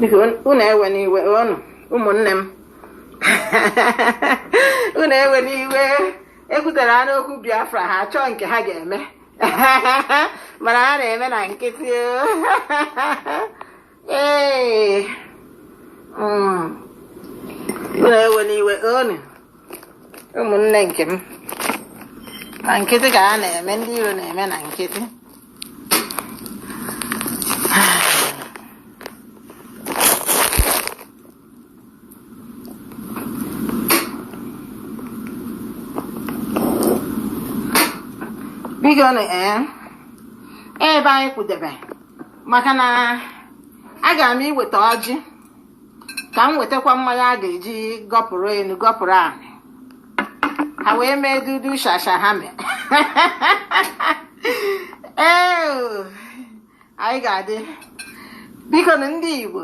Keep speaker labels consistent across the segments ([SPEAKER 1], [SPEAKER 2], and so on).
[SPEAKER 1] biko unu ewena iwe ọnụ ụmụnne m unu ewena iwe ekwutere ha n'okwu biafra ha chọọ nke ha ga-eme mana ha na-eme na nkịtị Ee. Mm. Unu ewena iwe unu ụmụnne nke m na nkịtị ka ha na-eme ndị iro na-eme na nkịtị biko nụ ee ebe anyị kwudebe maka na aga m iweta ọjị ka m wetakwa mmanya a ga-eji gọpụrụ enu gọpụrụ ana ha wee mee dudu shasha ha mee ee anyị ga-adị biko nụ ndị Igbo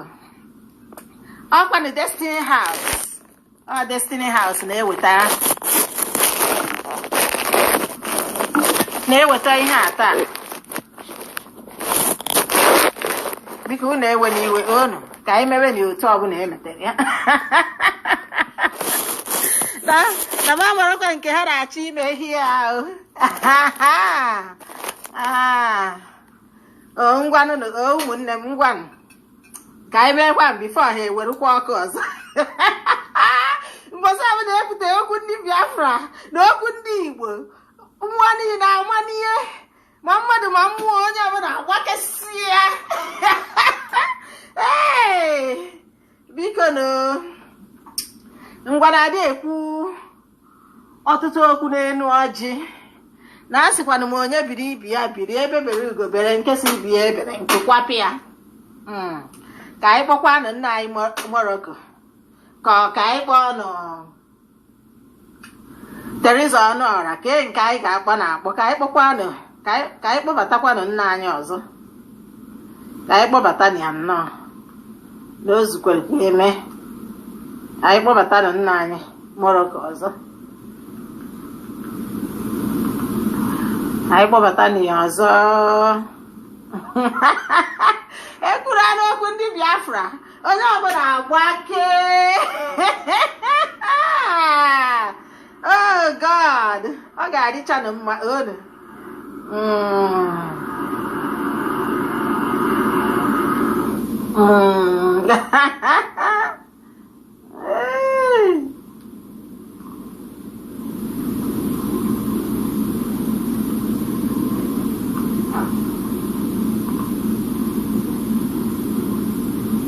[SPEAKER 1] ọkwanụ Destiny House ọ Destiny House na-eweta na-eweta ihe a taa biko unu ewena iwe unu ka anyị mewe na otu ọbụla emetere ya na na m amarakwa nke ha na-achọ ime ihe ahụ Ah, o ngwanụ o ụmụnne m ngwanụ ka anyị meekwa before ha ewerukwa ọkụ ọzọ mbọsị ahụ na-epụta okwu ndị biafra na okwu ndị igbo mmụọ niile na-ama n'ihe ma mmadụ ma mmụọ onye ọbụla agbakesịa ee biko nụ ngwanụ adị ekwu ọtụtụ okwu n'elu ọjị na asịkwanụ m onye biri ibe ya biri egbe bere ugo bere nke sị ibe ya ebere nku kwapụ ya hmm. ka anyị kpọkwanụ nna anyị Morocco ka ka anyị kpọọ nụ Teresa Ọnụọra kee nke anyị ga-akpọ na akpọ ka anyị kpọkwanụ ka anyị kpọbatakwanụ nna anyị ọzọ ka anyị kpọbatanụ ya nnọọ na o zukwere ka eme ka anyị kpọbatanụ nna anyị Morocco ọzọ anyị kpọbatanụ ya ọzọ ekwuru anụ okwu ndị Biafra onye ọbụla agbakee oh god ọ ga-adịchanụ mma olu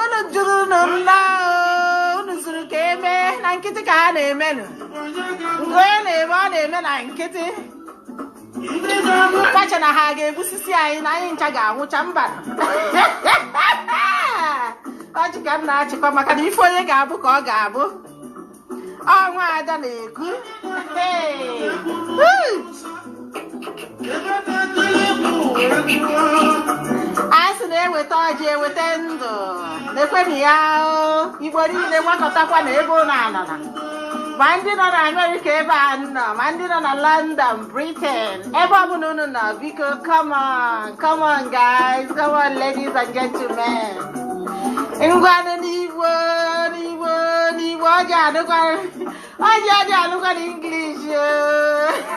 [SPEAKER 1] unu jụrụ unu mma unu zuru ka e mee na nkịtị ka ha na-emenụ nke onye na-eme ọ na-eme na nkịtị ka ha che na ha ga-egbusisi anyị na anyị ncha ga-anwụcha mba ọchị ka m na-achịkwa maka na ife onye ga-abụ ka ọ ga-abụ ọnwa ada na-ekwu a sị na e weta ọjị e weta ndụ na-ekwenụ ya Igbo niile gbakọtakwa na ebe ọ bụla a nọ na ma ndị nọ na Amerịka ebe a nọ ma ndị nọ na London Britain. Ebe ọ bụla unu nọ, biko, come on, come on, guys, come on, ladies and gentlemen. Ngwanụ n'Igbo, n'Igbo, n'Igbo, ọjị anụkwa, ọjị ọjị anụkwana English. oh.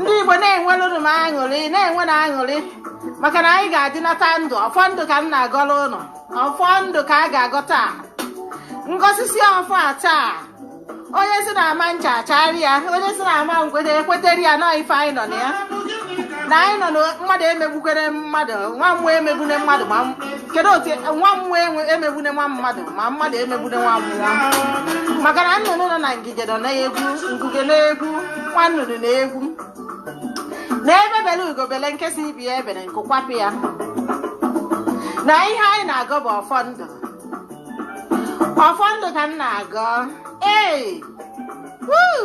[SPEAKER 1] ndị Igbo na-enwelụnụ m aṅụrị na-enwenụ aṅụrị maka na anyị ga-adịnata ndụ ọfọ ndụ ka m na-agọrọ unu ọfọ ndụ ka a ga-agọ taa ngọsisi ọfọ a taa onye sị na ama ncha achara ya onye sị na ama nkweta ekweteri ya na ife anyị nọ na ya na anyị nọ na mmadụ emegbukwene mmadụ nwa mmụọ emegbune mmadụ ma kedu otu nwa mmụọ emegbune nwa mmadụ ma mmadụ emegbune nwa mmụọ maka na nnụnụ nọ na ngige ọ na-egwu ngige na-egwu nwa nnụnụ na-egwu na egbe bele ugo bele nke sị ibe ya ebele nku kwapụ ya na ihe anyị na-agọ bụ ọfọ ndụ ọfọ ndụ ka m na-agọ ee wuu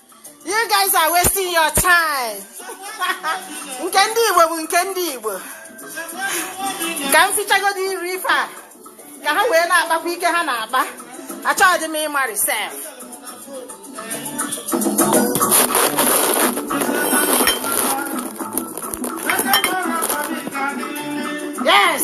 [SPEAKER 1] You guys are wasting your time. nke ndị Igbo bụ nke ndị Igbo. Ka m fichagodi iru ife a ka ha wee na-akpakwa ike ha na-akpa. Achọghị m ịmarị sef. Yes.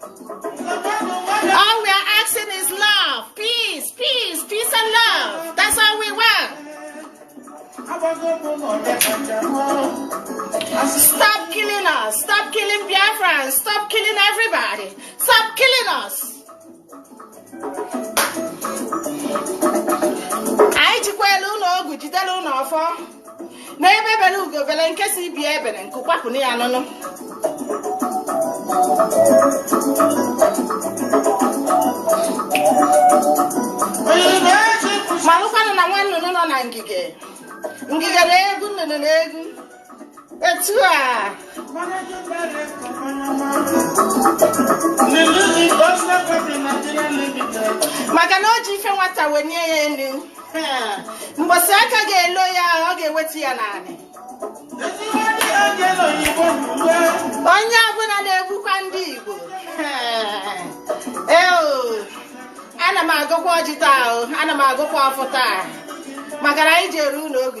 [SPEAKER 1] All we are asking is love, peace, peace, peace and love. That's all we want. Stop killing us. Stop killing Biafrans. Stop killing everybody. Stop killing us. anyị jikwala ụlọ ọgwụ jidere ụlọ ọfọ na egbe bele ugo bele nke sị ibe ebele nku kwapụnụ ya unu malụkwanụ na nwa nnụnụ nọ na ngige ngige na-egwu nnụnụ na-egwu etu a maka na o ji ife nwata wenye ya elu mgbọsị aka ga-elo ya ọ ga-ewetu ya n'anị onye ọbụla na-egbukwa ndị Igbo ee ana m agọkwa ọjị taa ana m agọkwa ọfọ taa maka na anyị ji eru ụlọ ogu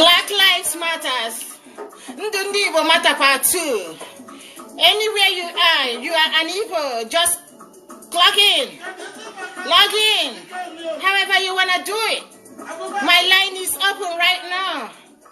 [SPEAKER 1] Black Lives Matters ndụ ndị Igbo matakwa too anywhere you are you are an Igbo just clock in log in however you wanna do it my line is open right now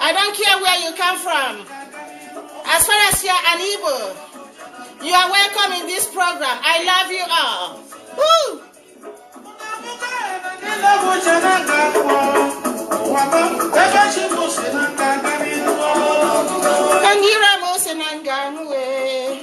[SPEAKER 1] I don't care where you come from. As far as you are an Igbo, you are welcome in this program. I love you all. Woo! Onye ire m ose na nga anụ wee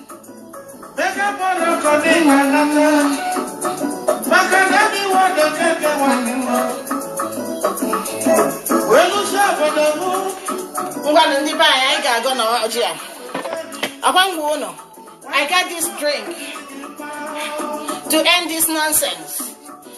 [SPEAKER 1] ngwanụ ndị be anyị anyị ga-agọ na ọjị a akwa ngwanụ i got this drink to end this nonsense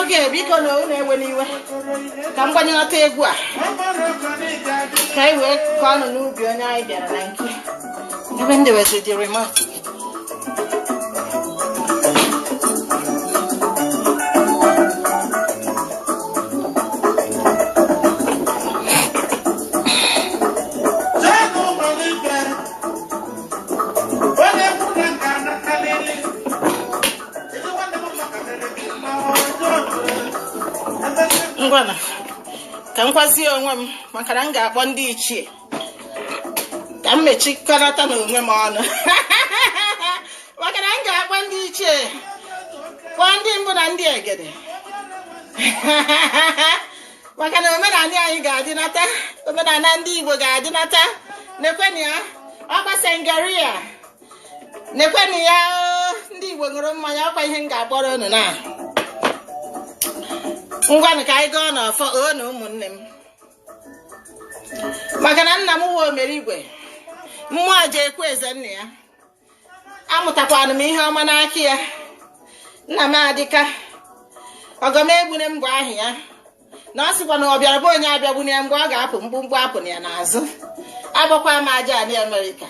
[SPEAKER 1] okay biko na unu ewena iwe ka m gbanyelata egwu a ka anyị wee kụọ ọnụ n'ubi onye anyị bịara na nke ebe ndị where is the remote ngwanụ ka m kwazie onwe m maka na m ga-akpọ ndị ichie ka m mechikọrọta na onwe m ọnụ maka na m ga-akpọ ndị ichie kpọọ ndị mbụ na ndị egede maka na omenala anyị ga-adịnata omenala ndị Igbo ga-adịnata nekwenụ ya ọkwa sangria nekwenụ ya ndị Igbo ṅụrụ mmanya ọkwa ihe m ga-akpọrọ unu na ngwanụ ka anyị gaa n'ọfọ oo na ụmụnne m maka na nna m nwe omere igwe mmụọ aja ekwe eze nna ya amụtakwanụ m ihe ọma n'aka ya nna m adịka ọgọmegbunem bụ aha ya na ọ sịkwa na ọ bịara be onye abịagbune ya mgbe ọ ga-apụ mkpumkpu apụna ya n'azụ akpọkwa m aja anị amerịka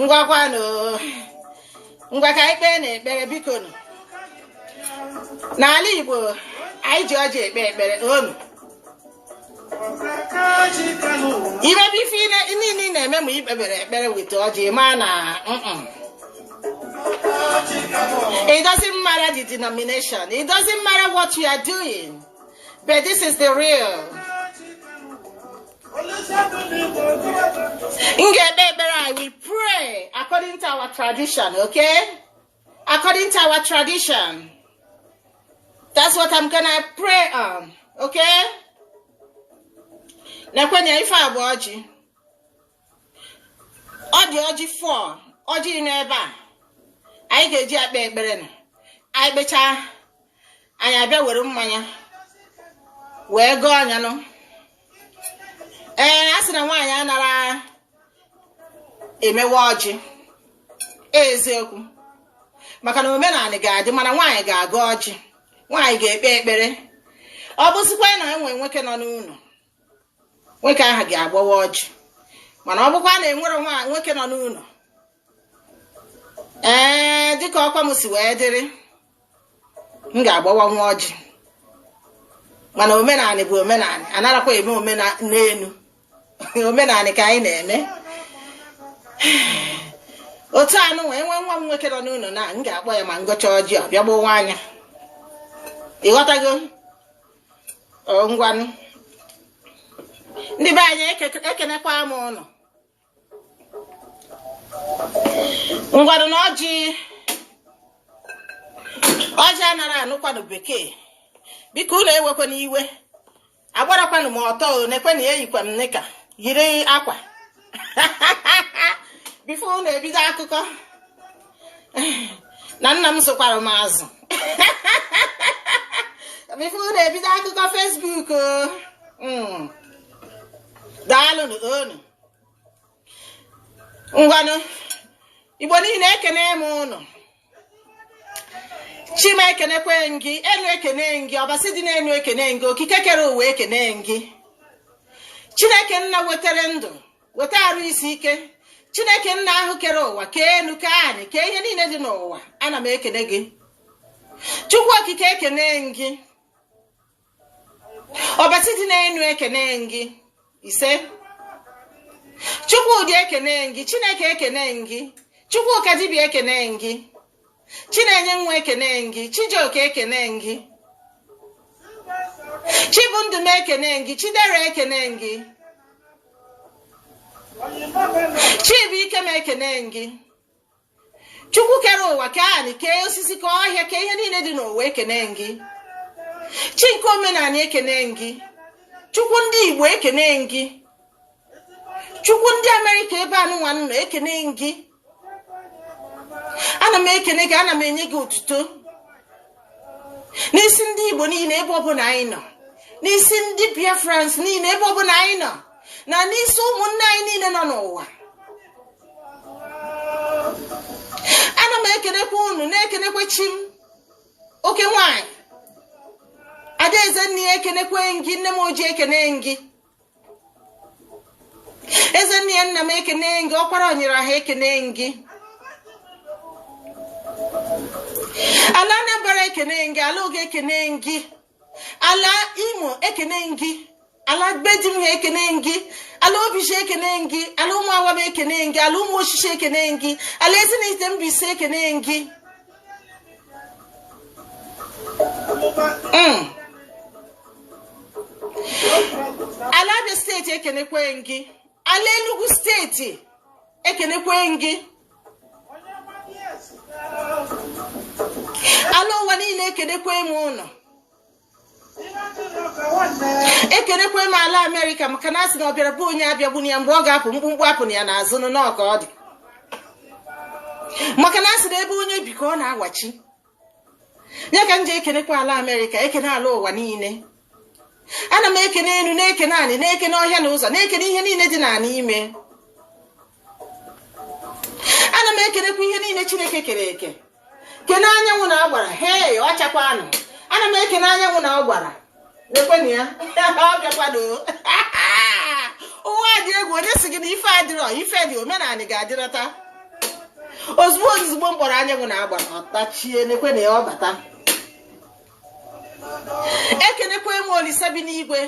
[SPEAKER 1] ngwakwanụ ngwa ka e kpee na ekpere biko nụ n'ala igbo anyị ji ọjị ekpe ekpere n'ọnụ i mebe ife niile ị na-eme ma i kpebere ekpere weta ọjị ma na it doesn't matter the denomination it doesn't matter what you are doing but this is the real m ga-ekpe ekpere anyị we pray according to our tradition okay According to our tradition. That's what I'm gonna pray on. Okay? Nekwe nya ife a bụ ọjị. Ọ dị ọjị four, ọjị n'ebe a. Anyị ga-eji ekpe ekpere na anyị kpechaa anyị abịa were mmanya wee gọọ anyanwụ. ee a sị na nwaanyị anara emewa ọjị eziokwu maka na omenanị ga-adị mana nwaanyị ga-agọ ọjị nwaanyị ga-ekpe ekpere ọ bụzikwa na e nwee nwoke nọ n'ụnọ nwoke ahụ ga-agbawa ọjị mana ọ bụkwa na enwere nwoke nọ n'ụnọ ee dịka ọkwa m si wee dịrị m ga-agbawanwu ọjị mana omenanị bụ omenanị anarakwa eme n'enu omenanị ka anyị na-eme otu anụnwa nwee nwa m nwoke nọ n'ụnọ na m ga-akpọ ya ma m gọchaa ọjị ọ bịa gbawaa nya ịghọtago ngwanụ ndị be anyị ekenekwa m ụnụ ngwanụ na ọjị ọjị anara anụkwanụ bekee biko ụnụ ewekwana iwe agbarakwanụ m ọtọ nekwenụ ya eyikwa m knicker yiri akwa before ụnụ ebido akụkọ na nna m zụkwara m azụ before ụnụ ebido akụkọ Facebook hmm. daalụnụ ngwanụ igbo niile ekene m ụnụ chima ekenekwe gị enu ekene gị ọbasi dị n'enu ekene gị okike kere ụwa ekene gị chineke nna wetara ndụ weta arụ isi ike chineke nna ahụ kere ụwa kee enu kee anị kee ihe niile dị n'ụwa ana m ekene gị chukwu okike ekene gị ọbasi dị n'enu ekene gị ise chukwudi ekene gị chineke ekene gị chukwu ka dibịa ekene gị chinenye nwa ekene gị chijioke ekene gị chibundụ m ekene gị chidera ekene gị chibu ike m ekene gị chukwu kere ụwa kee anị kee osisi kee ọhịa kee ihe niile dị n'ụwa ekene gị chi nke omenanị ekene gị chukwu ndị igbo ekene gị chukwu ndị America ebe anụnwa nọ ekene gị ana m ekene gị ana m enye gị otuto n'isi ndị igbo niile ebe ọbụla anyị nọ n'isi ndị biafrans niile ebe ọbụla anyị nọ na n'isi ụmụnne anyị niile nọ n'ụwa ana m ekenekwa unu na-ekenekwa chi m oke nwanyị adaeze nne ya ekenekwe m gị nne m ojii ekene gị eze nne ya nna m ekene gị ọkwara onyere ha ekene gị ala anambra ekene m gị ala oge ekene m gị ala imo ekene m gị ala gbedi m ha ekene m gị ala obizi ekene m gị ala ụmụawam ekene m gị ala ụmụosisi ekene m gị ala ezinihitte mbaise ekene m gị Mm. ala abịa steeti ekenekwe m gị ala enugu steeti ekenekwe m gị ala ụwa niile ekenekwe m unu ekenekwe m ala amerịka maka na asị na ọ bịara be onye abịagbuna ya mgbe ọ ga-apụ mkpumkpu apụna ya n'azụ n'ọka ọ dị maka na asị na ebe onye bi ka ọ na-awachi ya ka m ji ekenekwa ala amerịka ekene ala ụwa niile ana m ekene enu na-ekene anị na-ekene ọhịa na ụzọ na-ekene ihe niile dị na ya n'ime ana m ekenekwa ihe niile chineke kere eke kene anyanwụ na agbara hei ọ chakwanụ ana m ekene anyanwụ na agbara lekwenụ ya ọ bịakwanụ ụwa dị egwu onye sị gị na ife adịrọ ife dị omenala ga-adịrọta ozigbo ozigbo m kpọrọ anyanwụ na agbara ọtachie nekwenụ ya ọ bata ekenekwa m olisa bi n'igwe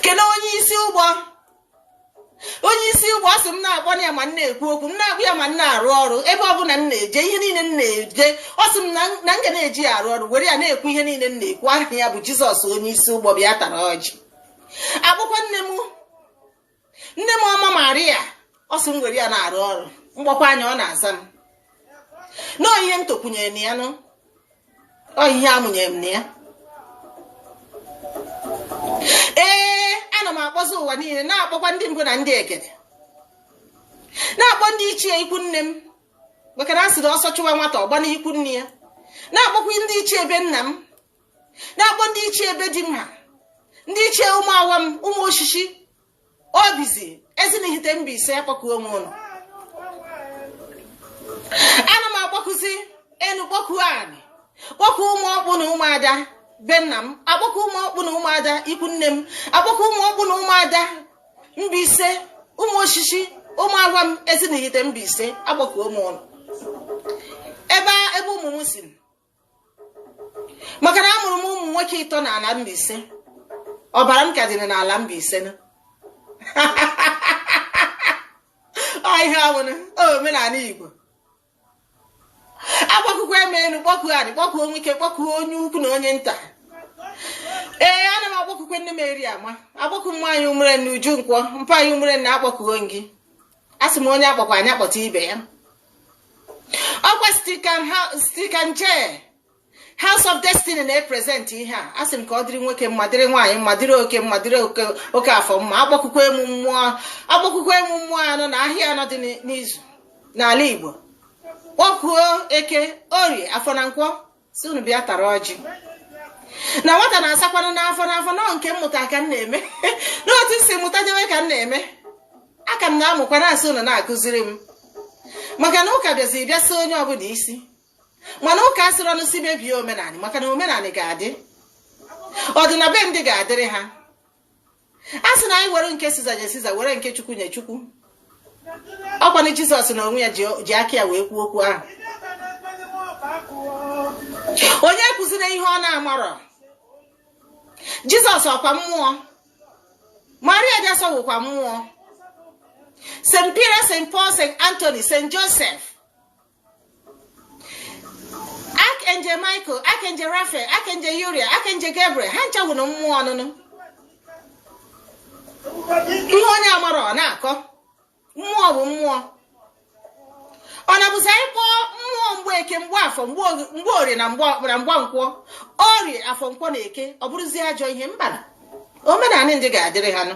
[SPEAKER 1] kene onye isi ụgbọ onye isi ụgbọ ọ sị m na-akpọ ya ma m na-ekwu okwu m na-akpọ ya ma m na-arụ ọrụ ebe ọ bụla m na-eje ihe niile m na-eje ọ sị m na m ga na-eji ya arụ ọrụ were ya na-ekwu ihe niile m na-ekwu aha ya bụ jizọs onye isi ụgbọ bịa tara ọjị akpọkwuo nne m nne m ọma maria ọ sị m were ya na-arụ ọrụ m kpọkuo ya ọ na-aza m na ihe m tokwunyere na ya nụ ọ ihe amụnyere m na ya ee ana m akpọzi ụwa niile na-akpọkwa ndị mbụ na ndị egede na-akpọ ndị ichie ikwu nne m maka na a sịrị ọsọ chụwa nwata ọ gbaa n'ikwu nne ya na-akpọkwa ndị ichie be nna m na-akpọ ndị ichie ebe di m ha ndị ichie ụmụ awa m ụmụosisi obizi ezinihite Mbaise akpọkuo onwe ụlọ ana m akpọkuzi enu kpọkuo anị kpọkuo ụmụ ọkpụ na ụmụada be nna m akpọkuo ụmụ ọkpụ na ụmụada ikwu nne m akpọkuo ụmụ ọkpụ na ụmụada Mbaise ụmụosisi ụmụ agwa m ezinihite Mbaise akpọkuo m ụlọ ebe ebe ụmụ m si maka na amụrụ m ụmụ nwoke ịtọ na ala Mbaise ọbara m ka dị n'ala Mbaise na ihe wụnụ omenanị Igbo akpọkukwa m enu kpọkuo anị kpọkuo nwoke kpọkuo onye ukwu na onye nta ee ana m akpọkukwa nne m eriama akpọkuo nwaanyị umere na uju nkwọ mpa anyị umere na akpọkuo gị asị m onye a kpọkwanụ ya kpọta ibe ya ọkwa stikan je House of Destiny na-epresent ihe a asị m ka ọ dịrị nwoke mma dịrị nwaanyị mma dịrị oke mma dịrị okeafọ mma akpọkukwa m mmụọ akpọkukwa m mmụọ anọ na ahịa anọ dị n'izu n'ala Igbo kpọkuo eke orie afọ na nkwọ sị unu bịa tara ọjị na nwata na-asakwanụ n'afọ n'afọ na ọ nke m mụta ka m na-eme n'otu m si mụtadewe ka m na-eme aka m na-amụkwa na-asị unu na-akụziri m maka na ụka bịazi bịa si onye ọbụna isi mana ụka asịrọ unu sị mebie omenanị maka na omenanị ga-adị ọdị na be ndị ga-adịrị ha a sị na anyị were nke siza nye siza were nke chukwu nye chukwu ọkwanụ jizọs na onwe ya ji aka ya wee kwuo okwu ahụ onye kụziri ihe ọ na-amarọ jizọs ọkwa mmụọ maria jeso wụkwa mmụọ st peter st paul st anthony st joseph archangel michael archangel raphael archangel uriel archangel gabriel ha ncha wụnụ mmụọ ọ wụnụ ihe onye amarọ ọ na-akọ mmụọ bụ mmụọ ọ na-abụzi anyị kpọọ mmụọ mgbeke mgbafọ mgborie na mgbankwọ orie afọ nkwọ na eke ọ bụrụzie ajọ ihe mbanụ omenanị ndị ga-adịrị ha nụ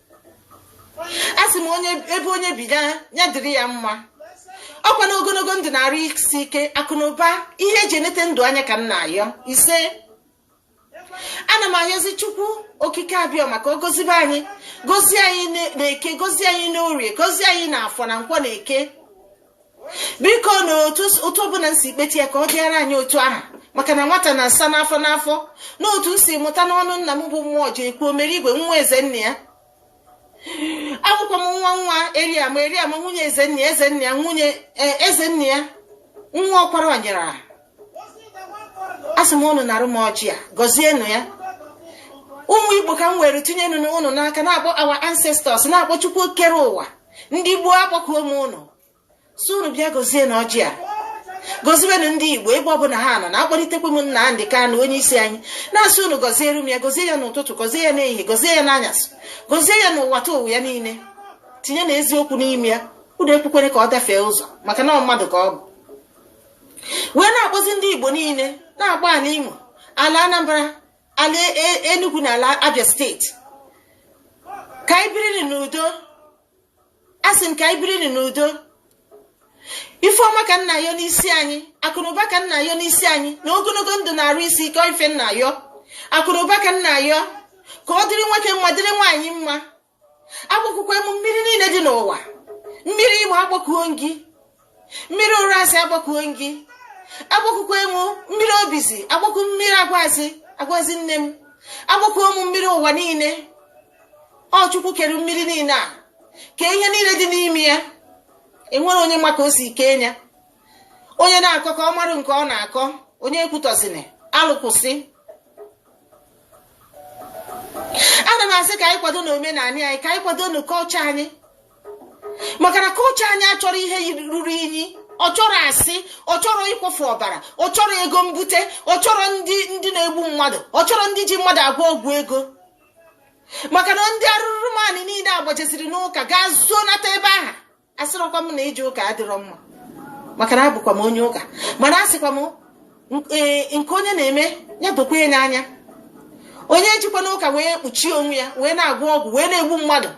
[SPEAKER 1] a sị m ebe onye bi ya dịrị ya mma ọkwa na ogonogo ndụ na arụ isi ike akụ na ụba ihe eji enete ndụ anya ka m na-ayọ ise ana m ayọzi chukwu okike abịama ka ọ gozibe anyị gozie anyị na eke gozie anyị n'orie gozie anyị na afọ na nkwọ na eke biko na otu ọbụna m si kpete ya ka ọ bịara anyị otu ahụ maka na nwata na-asa n'afọ n'afọ n'otu m si mụta n'ọnụ nna m bụ mmụọjekwu omere igwe nwa ezennaya abụkwa m nwa nwa eriama eriama nwunye ezennaya ezennaya nwunye e, ezennaya nwa ọkwara ọnyara asị m ụnụ narụ m ọjị a gọzienụ ya ụmụ igbo ka m were tinye ụnụ n'aka na-akpọ our ancestors na-akpọ chukwu kere ụwa ndị gboo akpọkuo m ụnụ sị unu bịa gozienụ ọjị a gozienụ ndị igbo ebe ọbụla ha nọ na-akpọlitekwa m nna Nnamdi Kanu onye isi anyị na-asị unu gọziere m ya gozie ya n'ụtụtụ gozie ya n'ehihie gozie ya n'anyasị gozie ya n'ụwatụwa ya niile tinyenụ eziokwu n'ime ya unu ekwekwene ka ọ dafee ụzọ maka na mmadụ ka ọ bụ wee na-akpọzi ndị Igbo niile na-akpọ ala Imo ala Anambra ala e, e, Enugu na ala Abia state ka anyị biri n'udo asị m ka anyị biri n'udo ifeọma ka m na-ayọ n'isi anyị akụnụba ka m na-ayọ n'isi anyị na ogologo ndụ na arụ isi ike ife m na-ayọ akụnụba ka m na-ayọ ka ọ dịrị nwoke mma dịrị nwaanyị mma agbakukwaa mụ mmiri niile dị n'ụwa mmiri igbo agbakuo m gị mmiri ụrasị agbakuo m gị agbakukwaa mụ mmiri obizi agbakuo m mmiri agwazi agwazi nne m agbakuo mụ mmiri ụwa niile ọ chukwu kere mmiri niile a kee ihe niile dị n'ime ya e nwerọ onye ma ka o si kee ya onye na-akọ ka ọ marụ nke ọ na-akọ onye ekwutọzina alụsị ana m asị ka anyị kwadonụ omenala anyị ka anyị kwadonụ culture anyị maka na culture anyị achọrọ ihe ruru inyi ọ chọrọ asị ọ chọrọ ịkwafu ọbara ọ chọrọ ego mbute ọ chọrọ ndị ndị na-egbu mmadụ ọ chọrọ ndị ji mmadụ agwọ ọgwụ ego maka na ndị arụrụmanị niile agbachaziri n'ụka gaa zoo nata ebe aha asịrọkwa m na ije ụka adịrọ mma maka na abụkwa m onye ụka mana asịkwa m e, nke onye na-eme ya dokwa ya anya onye ejikwana ụka wee kpuchie onwe ya wee na-agwọ ọgwụ wee na-egbu mmadụ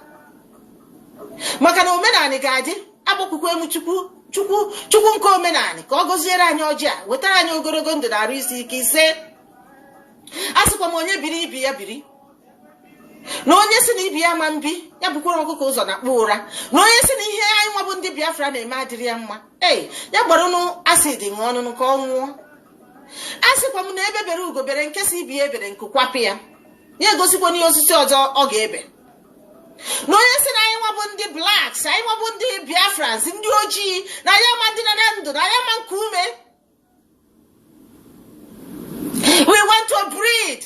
[SPEAKER 1] maka na omenala ga-adị agbakukwaa mụ chukwu chukwu chukwu nke omenala ka ọ gọziere anyị ọjị a wetara anyị ogologo ndụ na arụ isi ike ise asịkwa m onye biri ibe ya biri na onye sị na ibe ya ama ebi ya bukwara ọkụkọ ụzọ nakpuo ụra na onye sị na ihe anyị nwa bụ ndị biafra na-eme adịrọ ya mma ee ya gbaranụ acid ṅụọ ọṅụṅụ ka ọ nwụọ asịkwa m na egbe bere ugo bere nke sị ibe ya ebere nku kwapụ ya ya gosikwanụ ya osisi ọzọ ọ ga-ebe na onye sị na anyị nwa bụ ndị blacks anyị nwa bụ ndị biafrans ndị ojii na anyị ama adị na ndụ na anyị ama eku ume we want to breathe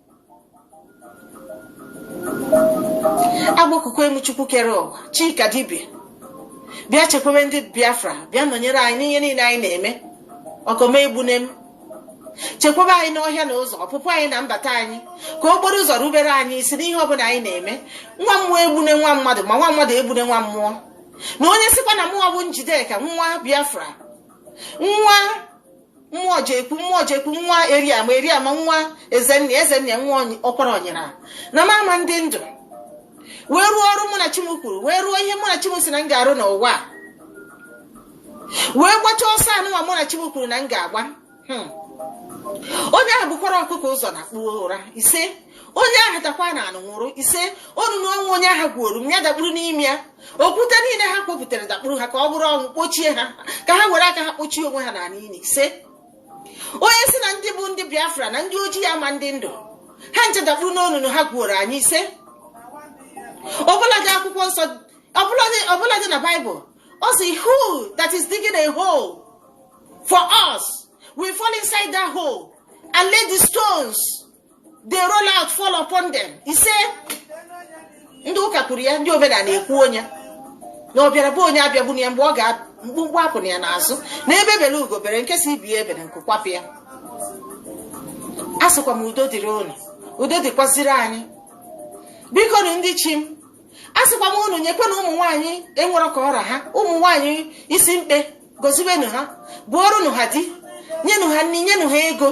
[SPEAKER 1] agbakukwaa mụ chukwu kere ụwa chi ka dibịa bịa chekwebe ndị biafra bịa nọnyere anyị n'ihe niile anyị na-eme ọgọ m egbune m chekwaba anyị n'ọhịa na ụzọ ọpụpụ anyị na mbata anyị ka okporo ụzọ rubere anyị isi n'ihe ọbụla anyị na-eme nwa mmụọ egbune nwa mmadụ ma nwa mmadụ egbune nwa mmụọ na onye sịkwa na mụwa bụ njideka nwa biafra nwa mmụọjekwu mmụọjekwu nwa eriama eriama nwa ezenna ezenna nwa ọkwara onye sịrị na m ama ndị ndụ wee rụọ ọrụ mụ na chi m kwuru wee rụọ ihe mụ na chi m si na m ga-arụ n'ụwa wee gbachaa ọsọ enu ụwa mụ na chi m kwuru na m ga-agba hmm. onye ahụ bukwara ọkụkọ ụzọ nakpuo ụra ise onye ahụ dakwa n'ana nwụrụ ise onunu nwa onye ahụ gwuoro m ya dakpuru n'ime ya okwute niile ha kpopụtara dakpuru ha ka ọ bụrụ ọnwụ kpochie ha ka ha were aka ha kpochie onwe ha n'ala ili ise onye si na ndị bụ ndị biafra na ndị ojii ama ndị ndụ ha nje dakpuru n'onunu ha gwuoro anyị ise ọbụladị akwụkwọ nsọ ọbụladị na baịbụl ọ si who that is digging a hole for us will fall inside that hole and let the stones they roll out fall upon them ise ndị ụka kwuru ya ndị omenala ekwuo nya na ọ bịara be onye abịagbuna ya mgbe ọ ga mkpumkpu apụna ya n'azụ na egbe bere ugo bere nke si ibe ya ebena nku kwapụ ya a sịkwa m udo dịrị unu udo dịkwaziri anyị bikonụ ndị chi m a sịkwa m unu nyekwenụ ụmụ nwaanyị e nwere ka ọ ra ha ụmụ nwaanyị isi mkpe goziwenụ ha bụọrọnụ ha di nyenụ ha nri nyenụ ha ego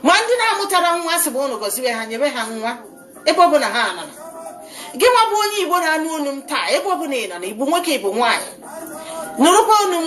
[SPEAKER 1] ma ndị na-amụtara nwa sị bụ unu goziwe ha nyebe ha nwa ebe ọ bụla ha nọ gị nwa bụ onye igbo na-anụ olu m taa ebe ọ bụla ị nọ na ị bụ nwoke ị bụ nwaanyị nụrụkwa olu m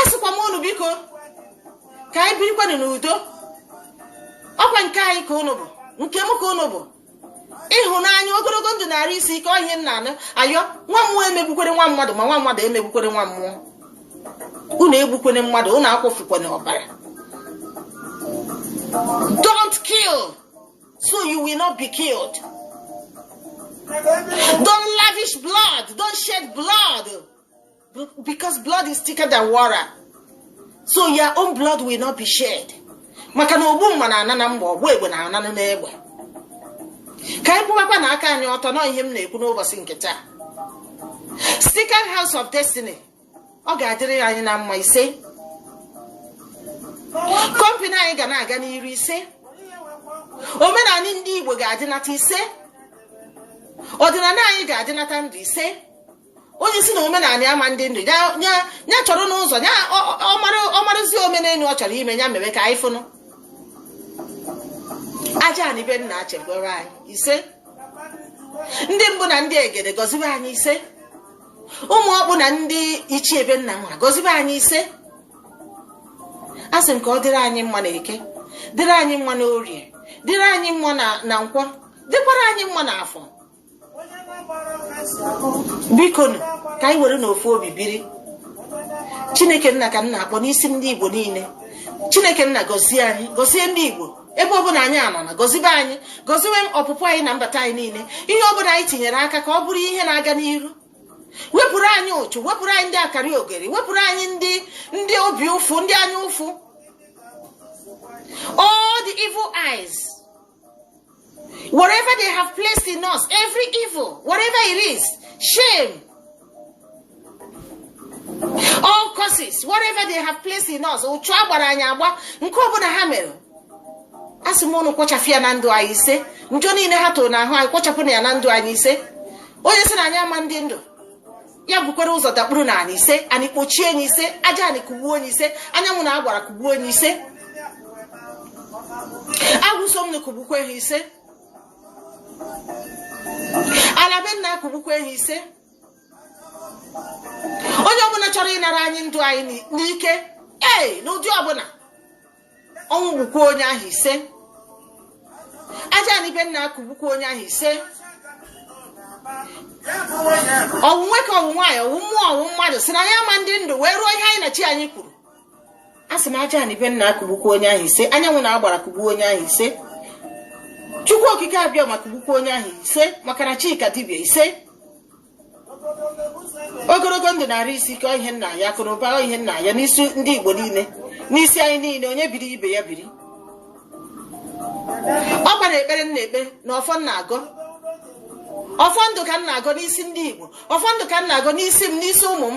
[SPEAKER 1] asịkwa m unu biko ka anyị birikwanụ n'udo ọkwa nke anyị ka unu bụ nke m ka unu bụ ịhụnanya ogologo ndụ na arụ isi ike ọ ihe m nanụ ayọ nwa mmụọ emegbukwene nwa mmadụ ma nwa mmadụ emegbukwene nwa mmụọ unu egbukwene mmadụ unu akwafukwana ọbara don't kill so you will not be killed don't lavish blood don't shed blood because blood is thicker than water so your own blood will not be shed maka na ogbu mma na-ana na mma ọgba egbe na-ananụ n'egbe ka anyị kwụbakwanụ aka anyị ọtọ na ọ ihe m na-ekwu n'ụbọchị nke taa Second House of Destiny ọ ga-adịrị anyị na mma ise company anyị ga na-aga n'iru ise omenala ndị Igbo ga-adịnata ise ọdịnala anyị ga-adịnata ndụ ise onye si na omenala ama ndị ndụ ya chọrọnụ ụzọ ya ọ marazi omenelu ọ chọrọ ime ya meme ka anyị fụnụ aja ani be nna chebere anyị ise ndị mbụ na ndị egede gọziwe anyị ise ụmụ ọkpụ na ndị ichie ebe nna nwa gọzibe anyị ise asị m ka ọ dịrị anyị mma na eke dịrị anyị mma na orie dịrị anyị mma na nkwọ dịkwara anyị mma na afọ biko nụ ka anyị were n'ofu obi biri chineke nna ka m na-akpọ n'isi ndị igbo niile chineke nna gọzie anyị gọzie ndị igbo ebe ọbụla anyị nọ na gọzibe anyị gọziwe ọpụpụ anyị na mbata anyị niile ihe ọbụla anyị tinyere aka ka ọ bụrụ ihe na-aga n'iru wepụrụ anyị ụchụ wepụrụ anyị ndị akarị ogeri wepụrụ anyị ndị ndị obi ụfụ ndị anya ụfụ all the evil eyes whatever they have placed in us every evil whatever it is shame all curses whatever they have placed in us ụchụ a gbara anyị agba nke ọbụla ha mere asị m ụnụ kpochafụ ya na ndụ anyị ise njọ niile ha tụrụ n'ahụ anyị kpochapụnụ ya na ndụ anyị ise onye sị na anyị ama dị ndụ ya bukwara ụzọ dakpuru n'anị ise anị kpochie onye ahụ ise aja anị kugbuo onye ahụ ise anyanwụ na agbara kugbuo onye ahụ ise agwụ so m na kugbukwe ha ise ala be nna akụgbukwa ha ise onye ọbụla chọrọ ịnara anyị ndụ anyị n'ike ee n'ụdị ọbụla ọnwụ gbukwa onye ahụ ise aja anị be nna akụgbukwa onye ahụ ise ọ wụ nwoke ọ wụ nwaanyị ọ wụ mmụọ ọ wụ mmadụ sị na anyị ama dị ndụ wee ruo ihe anyị na chi anyị kwuru a sị m aja anị be nna akụgbukwa onye ahụ ise anyanwụ na agbara kụgbuo onye ahụ ise chukwu okike abịama kụgbukwa onye ahụ ise maka na chi ka dibịa ise ogologo ndụ na arụ isi ike ihe m na-ayọ akụ na ụba ihe m na-ayọ n'isi ndị igbo niile n'isi anyị niile onye biri ibe ya biri ọ gbara ekpere m na-ekpe na ọfọ m na-agọ ọfọ ndụ ka m na-agọ n'isi ndị igbo ọfọ ndụ ka m na-agọ n'isi m n'isi ụmụ m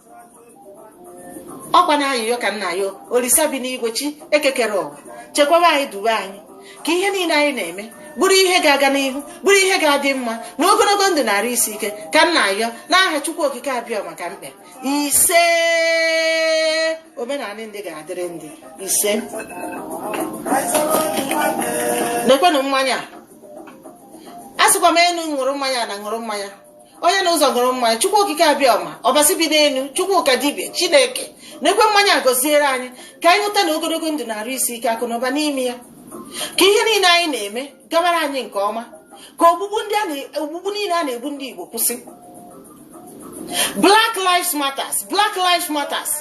[SPEAKER 1] ọkwa na ayịyọ ka m na-ayọ olisa bi n'igwe chi eke kere ụwa chekwaba anyị duwe anyị ka ihe niile anyị na-eme bụrụ ihe ga-aga n'ihu bụrụ ihe ga-adị mma na ogologo ndụ na arụ isi ike ka m na-ayọ n'aha chukwu okike abịama ka m kpe ise omenala ndị ga-adịrị ndị ise nekwenụ mmanya a sịkwa m enu ṅụrụ mmanya ana ṅụrụ mmanya onye na ụzọ ṅụrụ mmanya chukwu okike abịa ọma ọbasi bi n'elu chukwu ka dibịa chineke nekwe mmanya gọziere anyị ka anyị ṅụta na ogologo ndụ na arụ isi ike akụ na ụba n'ime ya ka ihe niile anyị na-eme gabara anyị nke ọma ka ogbugbu niile a na-egbu ndị igbo kwụsị black lives matters black lives matters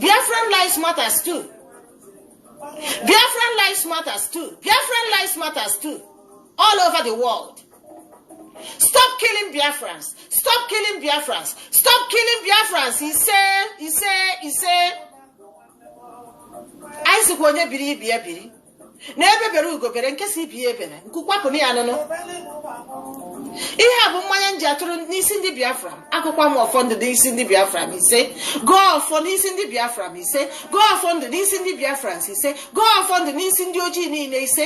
[SPEAKER 1] biafran lives matters too biafran lives matters too biafran lives matters too all over the world stop killing biafrans stop killing biafrans stop killing biafrans ise ise ise anyị sịkwa onye biri ibe ya biri na egbe bere ugo bere nke sị ibe ya ebere nku kwapụ na ya nụnụ ihe a bụ mmanya m ji atụrụ n'isi ndị biafra agọkwuo m ọfọ ndụ n'isi ndị biafra m ise gọọ ọfọ n'isi ndị biafra m ise gọọ ọfọ ndụ n'isi ndị biafra ise gọọ ọfọ ndụ n'isi ndị ojii niile ise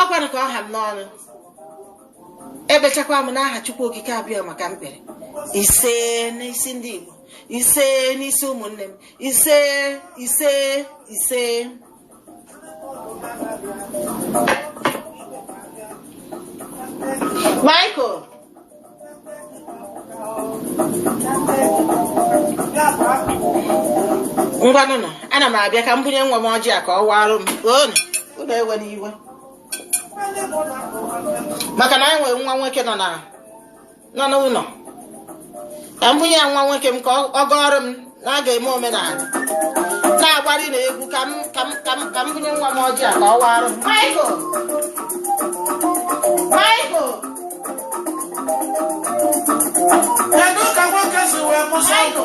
[SPEAKER 1] ọ kwanụ ka ọ ha m n'ọnụ ekpechakwa m n'aha Chukwu Okike Abịama ka m kpere ise n'isi ndị Igbo ise n'isi ụmụnne m ise ise ise Michael ngwanụnụ ana m abịa ka m bunye nwa m ọjị a ka ọ warụ m o ụnụ ewena iwe maka na anyị nwere nwa nwoke nọ na nọ n'ụlọ ka m bunye ya nwa nwoke m ka ọ gọọrọ m na a ga-eme omenala na-agbari na egwu ka m ka m ka m ka m bunye nwa m ọjị a ka ọ warụ m Michael Michael Kedu ka nwoke si wee mụsa ụmụ?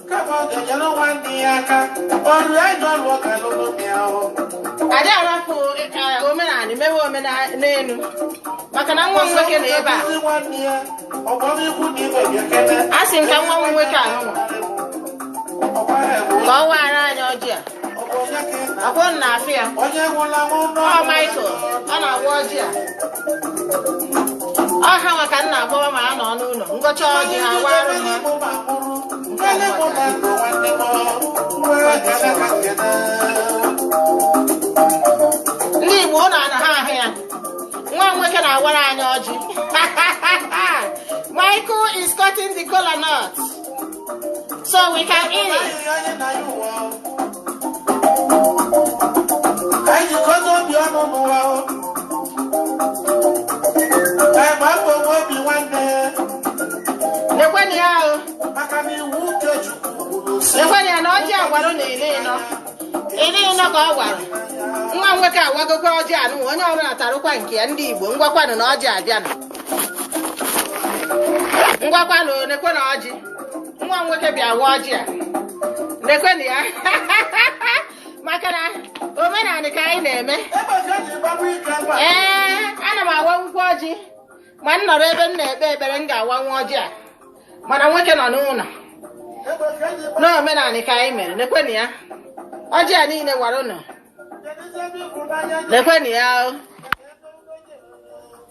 [SPEAKER 1] adị arapụ omenala mewe omenenu maka na nwa m nwoke nọ ebe a a sị m ka nwa m nwoke a nụnwa ka ọ waara anyị ọjị a akwụ na afịa ọ Michael ọ na-awa ọjị a ọha maka na agbọwa ma a nọ n'ụlọ ngọcha ọjị ha warụ ha ndị igbo ụnụ ana-ahụ ya nwa nwoke na-awara anyị ọjị michael is cutting the kola nut So we can eat it. Lekwenụ ya o. Lekwenụ ya na ọjị a wara na ele ịnọ. Ele ịnọ ka ọ wara. Nwa nwoke awagokwa ọjị a nụ onye ọbụna tarụkwa nke ya ndị Igbo ngwakwanụ na ọjị abịanụ. ngwakwanụ nekwenụ ọjị nwa m nwoke bịa waa ọjị a nekwenụ ya maka na omenala ka anyị na-eme ee ana m awanwukwu ọjị ma m nọrọ ebe m na-ekpe ekpere m ga-awa nwa ọjị a mana nwoke nọ n'ụnọ n'omenala ka anyị mere nekwenụ ya ọjị a niile wara ụnụ nekwenụ ya o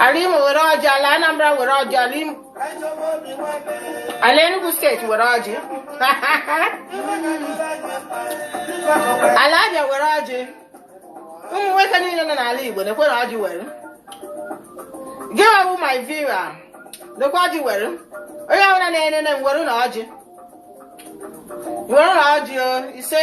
[SPEAKER 1] ala imo were ọjị ala anambra were ọjị ala imo ala enugu steeti were ọjị ala abịa were ọjị ụmụ nwoke niile nọ n'ala igbo nekwenụ ọjị were gị wụ my viewer lekwa ọjị were onye ọbụla na-enene m werenụ ọjị werenụ ọjị o ise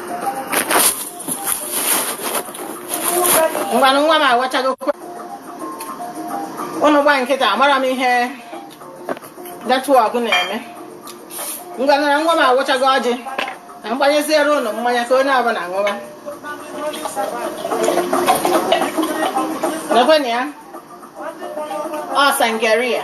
[SPEAKER 1] ngwanụ nwa m awachago ụnụ gba nkịtị amara m ihe network na-eme ngwanụ na nwa m awachago ọjị ka m gbanyeziere ụnụ mmanya ka onye ọbụla ṅụwa nekwenụ ya ọ sangria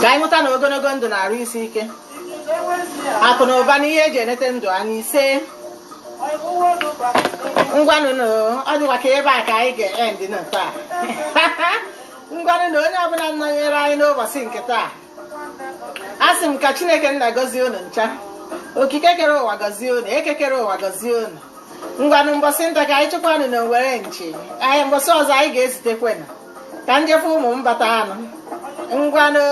[SPEAKER 1] ka anyị nweta na ogonogo ndụ na arụ isi ike akụ na ụba na ihe eji enete ndụ anya ise ngwanụ na ọ dịkwa ka ebe a ka anyị ga-end na taa ngwanụ na onye ọbụna nọnyere anyị n'ụbọsị nke taa a sị m ka chineke nna gọzie unu ncha okike kere ụwa gọzie unu eke kere ụwa gọzie unu ngwanụ mbọsị nta ka anyị chụkwanụ n'owere nchi anyị mbọsị ọzọ anyị ga-ezutekwenụ ka m je fụ ụmụ m batanụ ngwanụ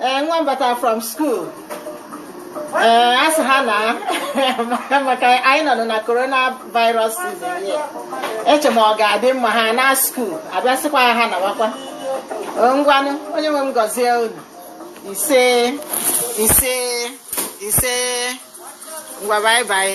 [SPEAKER 1] ee nwa m bata from school ee a sị ha naa maka anyị nọ na corona virus season ya eche m ọ ga-adị mma ha na school abịasịkwaa ha nawakwa ngwanụ onye nwe m gọzie unu ise ise ise ngwa bye bye